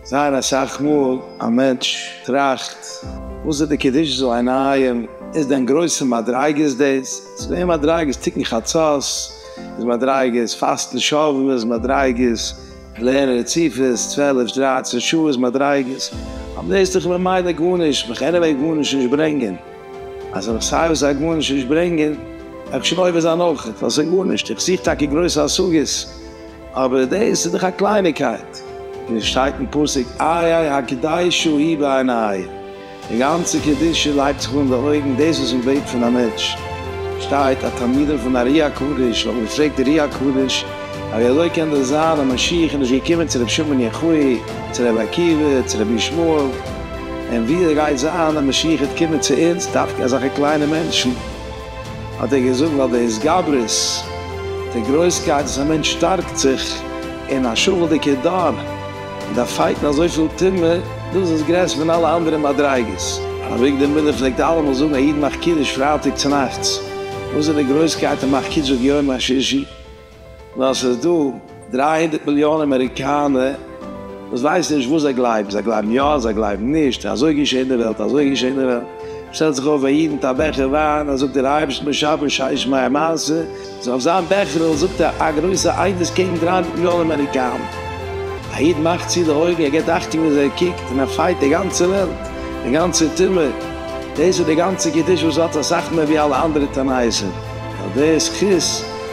זייער אסאך מאל א מענטש טראכט וואס איז די קדושה זאל אינאיהם, איז דען גרויסע מדריגות דאס? ס'איז מער מדריגות תיקון חצות, איז מדריגות פאסטן שבועות, איז מדריגות לערנען רציפות צוועלף דרייצן שעה, איז מדריגות, אבער דאס איז דאך ממילא גארנישט, בכן עניוועי גארנישט נישט ברענגען. אז איך סיי וואס א גארנישט נישט ברענגען, גיי איך שוין עובר זיין אויך, ווייל ס'איז גארנישט, איך זוך טאקע גרויסע השגות, אבער דאס איז דאך א קלייניקייט, ווי עס שטייט אין פסוק איי איי הקדיישו היא בעיניי, די גאנצע קדושה לייגט זיך אן די אויגן, דאס וואס מ'בעט פון א מענטש, שטייט א תלמידן פון ארי הקדוש האבן געפרעגט ארי הקדוש, א ווי אזוי קען דאס זיין אז משיח איז נישט געקומען צו רבי שמעון יחוי', צו רבי עקיבא, צו רבי ישמעאל. און ווי עס גייט זיין אז משיח העט קומען צו אונז, דווקא אזעלכע קליינע מענטשן, האט ער געזאגט, ווייל די התגברות, די גרויסקייט וואס א מענטש שטארקט זיך אין א שפל'דיגע דור, מיט א פייט און אזויפיל טומאה, דאס איז גרעסער פון אלע אנדערע מדריגות. אביגדור מילער פלעגט אלעמאל זאגן, א איד מאכט קידוש פרייטאג צונאכטס, וואס איז די גרויסקייט אין מאכט קידוש אויף יום השישי? ווייל ס'איז דא דרײַ הונדערט מיליאן אמעריקאנע וואס ווייסן נישט וואס זיי גלייבן, זיי גלייבן יא, זיי גלייבן נישט, אזוי געשעט אין די וועלט, אזוי געשעט אין די וועלט, שטעלט זיך אויף ווען איד מיט א בעכער וויין, אז זאגט דער אייבערשטן בשבחו שיש מאין מעשה, איז אויף זיין בעכערל זאגט ער א גרויסע עדות קעגן דרײַ הונדערט מיליאן אמעריקאנע, א איד מאכט צו די אויגן, ער געבט אכטונג ווי אזוי ער קוקט, און ער פייט די גאנצע וועלט, די גאנצע טומאה, דאס איז די גאנצע קדושה וואס האט אסאך מער ווי אלע אנדערע תנאות'ער, און אויף די זכות.